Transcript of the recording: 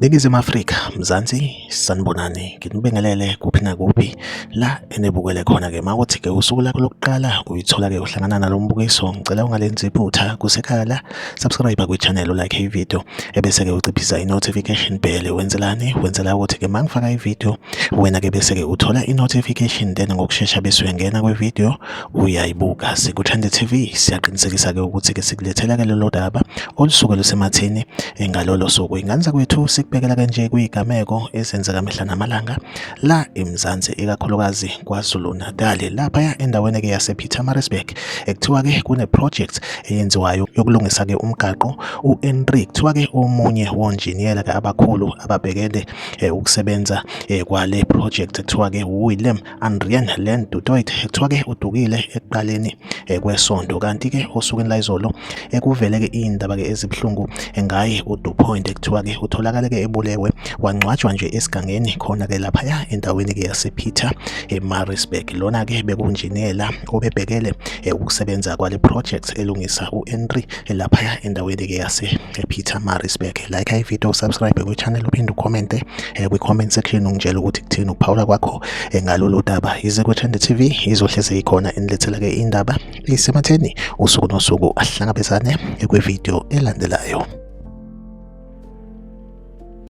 Ningizimu Afrika, Mzansi, sanibonani. Nginibingelele kuphi nakuphi la enibukele khona ke mawuthi ke usuku lakho lokuqala uyithola ke uhlangana nalombukiso. Ngicela ungalenzi iphutha kusekhala Subscribe kwi-channel like i-video ebese-ke uciphisa i-notification bell wenzelani wenzela ukuthi-ke uma ngifaka i-video wena-ke bese-ke uthola i-notification then ngokushesha bese uyangena kwi-video uyayibuka sikuthande TV siyaqinisekisa-ke ukuthi-ke sikulethela-ke lolo daba olusuke lusemathini eh, ngalolo suku ingane zakwethu sikubekela kanje kuyigameko ezenzeka mihla namalanga la eMzansi ikakhulukazi KwaZulu-Natal laphaya endaweni-ke yasePietermaritzburg ekuthiwa ke kune project eyenziwayo yokulungisa ke umgaqo uHenry kuthiwa ke omunye wonjiniyela ke abakhulu ababhekele eh, ukusebenza eh, kwale project kuthiwa ke William Andrian Land Dutoit kuthiwa ke udukile ekuqaleni eh, kwesonto kanti ke osukwini layizolo ekuvele ke indaba ke ezibuhlungu ngaye uDupoint kuthiwa ke utholakale ke ebulewe wangcwatshwa nje esigangeni khona ke lapha endaweni ke yasePeter eMaritzburg lona ke bekunjiniyela obebhekele eh, ukusebenza kwale project elungisa u-entry laphaya endaweni-ke yase-peter marisburg like ivideo usubscribe kwi-channel uphinde ucommente eh, kwi-comment section ungitshela ukuthi kuthini ukuphawula kwakho eh, ngalolu daba yize kwethende t v izohlezi ikhona inilethela-ke indaba isematheni usuku nosuku ahlangabezane kwividiyo elandelayo